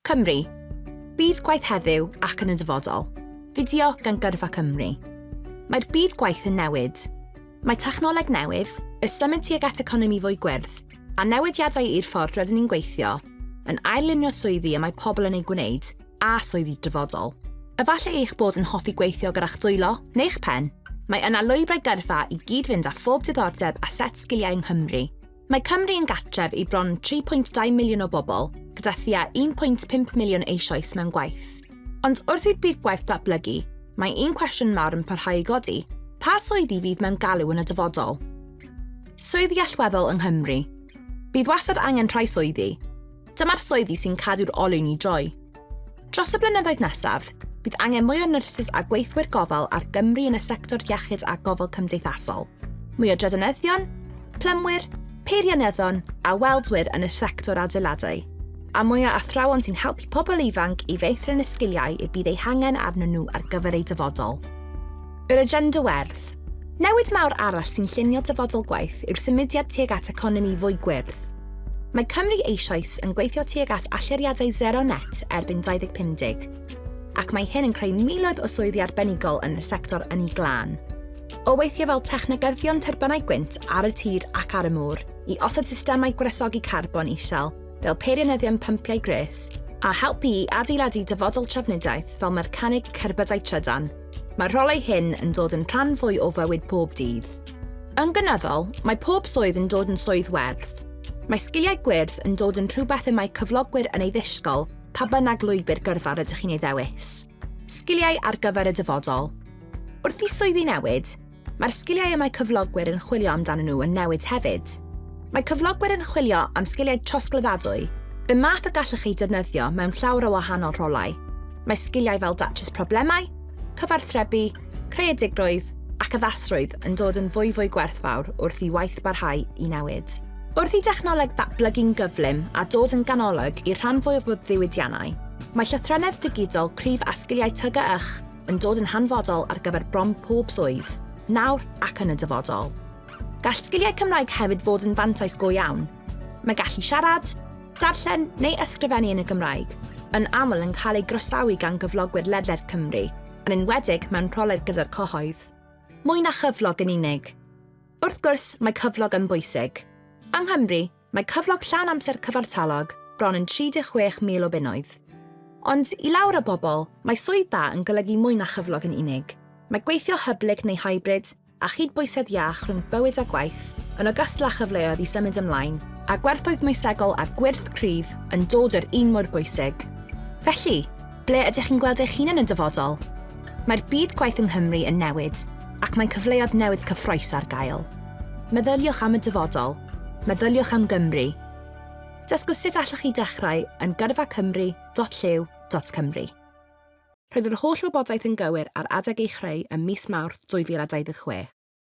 Cymru. Byd gwaith heddiw ac yn y dyfodol. Fideo gan Gyrfa Cymru. Mae'r byd gwaith yn newid. Mae technoleg newydd, y symud tuag at economi fwy gwyrdd, a newidiadau i'r ffordd rydyn ni'n gweithio, yn ail-lunio swyddi y mae pobl yn eu gwneud, a swyddi'r dyfodol. Efallai eich bod yn hoffi gweithio gyda'ch dwylo neu'ch pen, mae yna lwybrau gyrfa i gyd-fynd â phob diddordeb a set sgiliau yng Nghymru. Mae Cymru yn gartref i bron 3.2 miliwn o bobl, gyda thua 1.5 miliwn eisoes mewn gwaith. Ond wrth i'r byd gwaith datblygu, mae un cwestiwn mawr yn parhau i godi, pa swyddi fydd mewn galw yn y dyfodol? Swyddi allweddol yng Nghymru. Bydd wastad angen rhai swyddi, Dyma'r swyddi sy'n cadw'r olwyn i droi. Dros y blynyddoedd nesaf, bydd angen mwy o nyrsys a gweithwyr gofal ar Gymru yn y sector iechyd a gofal cymdeithasol, mwy o drydanyddion, plymwyr, peirianyddion a weldwyr yn y sector adeiladau, a mwy o athrawon sy'n helpu pobl ifanc i feithrin y sgiliau y bydd eu hangen arnyn nhw ar gyfer eu dyfodol. Yr agenda werdd. Newid mawr arall sy'n llunio dyfodol gwaith yw'r symudiad tuag at economi fwy gwyrdd. Mae Cymru eisoes yn gweithio tuag at allyriadau sero net erbyn 2050, ac mae hyn yn creu miloedd o swyddi arbenigol yn y sector ynni glân. O weithio fel technegyddion tyrbynau gwynt ar y tir ac ar y môr, i osod systemau gwresogi carbon isel fel peirianyddion pympiau gwres, a helpu i adeiladu dyfodol trafnidiaeth fel mercaneg cerbydau trydan, Mae'r rolau hyn yn dod yn rhan fwy o fywyd pob dydd. Yn gynyddol, mae pob swydd yn dod yn swydd werth. Mae sgiliau gwyrdd yn dod yn rhywbeth y mae cyflogwyr yn ei ddisgol pa bynnag lwybr gyrfa rydych chi'n ei ddewis. Sgiliau ar gyfer y dyfodol. Wrth i swyddi newid, Mae'r sgiliau y mae cyflogwyr yn chwilio amdanyn nhw yn newid hefyd. Mae cyflogwyr yn chwilio am sgiliau trosglwyddadwy, y math y gallwch eu defnyddio mewn llawer o wahanol rolau. Mae sgiliau fel datrys problemau, cyfarthrebu, creadigrwydd ac addasrwydd yn dod yn fwyfwy gwerthfawr wrth i waith barhau i newid. Wrth i dechnoleg ddatblygu'n gyflym a dod yn ganolog i'r rhan fwyaf o ddiwydiannau, mae llythrennedd digidol cryf a sgiliau TGYH yn dod yn hanfodol ar gyfer bron pob swydd, nawr ac yn y dyfodol. Gall sgiliau Cymraeg hefyd fod yn fantais go iawn. Mae gallu siarad, darllen neu ysgrifennu yn y Gymraeg yn aml yn cael ei groesawu gan gyflogwyr ledled Cymru, yn enwedig mewn rholedd gyda'r cyhoedd. Mwy na chyflog yn unig. Wrth gwrs, mae cyflog yn bwysig. Yng Nghymru, Mae cyflog llawn amser cyfartalog bron yn 36,000 o bunnoedd. Ond, i lawer o bobl, mae swydd da yn golygu mwy na chyflog yn unig. Mae gweithio hyblyg neu hybrid, a chydbwysedd iach rhwng bywyd a gwaith, yn ogystal â chyfleoedd i symud ymlaen, a gwerthoedd moesegol a gwyrth cryf yn dod yr un mor bwysig. Felly, Ble ydych chi'n gweld eich hun yn y dyfodol? Mae'r byd gwaith yng Nghymru yn newid, ac mae cyfleoedd newydd cyffrous ar gael. Meddyliwch am y dyfodol. Meddyliwch am Gymru. Dysgwch sut allwch chi dechrau yn gyrfacymru.llyw.cymru. Roedd yr holl wybodaeth yn gywir ar adeg ei chreu ym mis Mawrth 2026.